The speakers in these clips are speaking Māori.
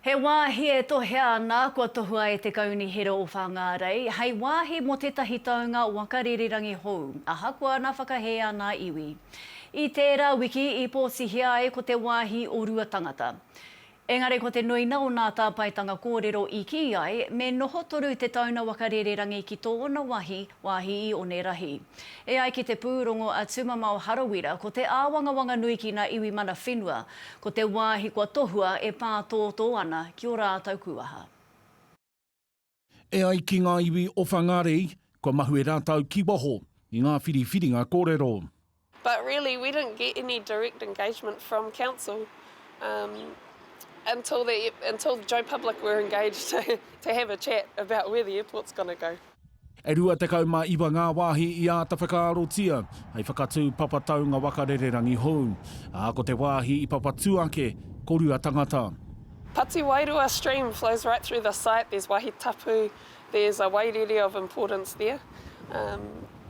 He wāhi e tohea ana kua tohua e te Kaunihera o Whāngārei hei wāhi mō tētahi taunga waka rīrirangi hou, ahakoa nā whakahē ana iwi. I tērā wiki i pōtihia ai ko te wāhi o Ruatangata. Engari ko te nuinga o nā tāpaetanga kōrero i kī ai me noho toru te tauna waka rīrirangi ki tōna wahi, wāhi i Onerahi. E ai ki te pūrongo a Tumamao Harawira, ko te āwangawanga nui ki ngā iwi mana whenua, ko te wāhi kua tohua e pātōtō ana ki ō rātou kūaha. E ai ki ngā iwi o Whangārei, kua mahue rātou ki waho i ngā whiriwhiringa kōrero. But really we didn't get any direct engagement from council until the until Joe Public were engaged to have a chat about where the airport's going to go. E rua tekau mā iwa ngā wāhi i āta whakaarotia hei whakatū papa taunga waka rererangi hou, ā, ko te wāhi i papatū ake ko Ruatangata. Pati Wairua stream flows right through the site, there's wahi tapu, there's a wairere of importance there.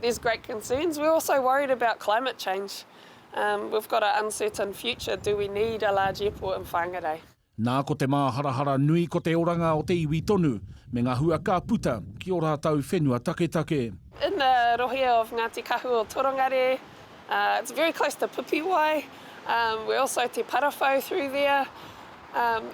There's great concerns, we're also worried about climate change, we've got a uncertain future, do we need a large airport in Whangarei? Nā, ko te māharahara nui ko te oranga o te iwi tonu, me ngā hua ka puta ki ō rātou whenua taketake. In the rohe of Ngati Kahu or Torongare, it's very close to Pipiwai, we're also te Parawhau through there,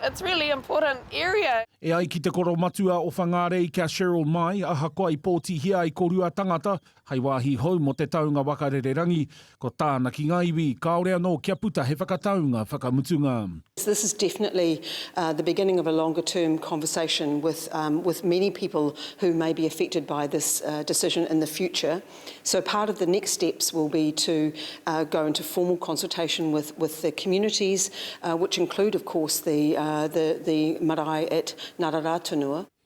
it's really important area. E ai ki te koromatua o Whangārei kia Cheryl Mai, ahakoa i pōtihia ai ko Ruatangata, Hei wāhi hou mō te taunga waka rererangi, ko tāna ki ngā iwi, kāore anō kia puta he whakataunga whakamutunga. This is definitely the beginning of a longer term conversation with with many people who may be affected by this decision in the future. So part of the next steps will be to go into formal consultation with with the communities which include of course the the the marae at Ngararātunua.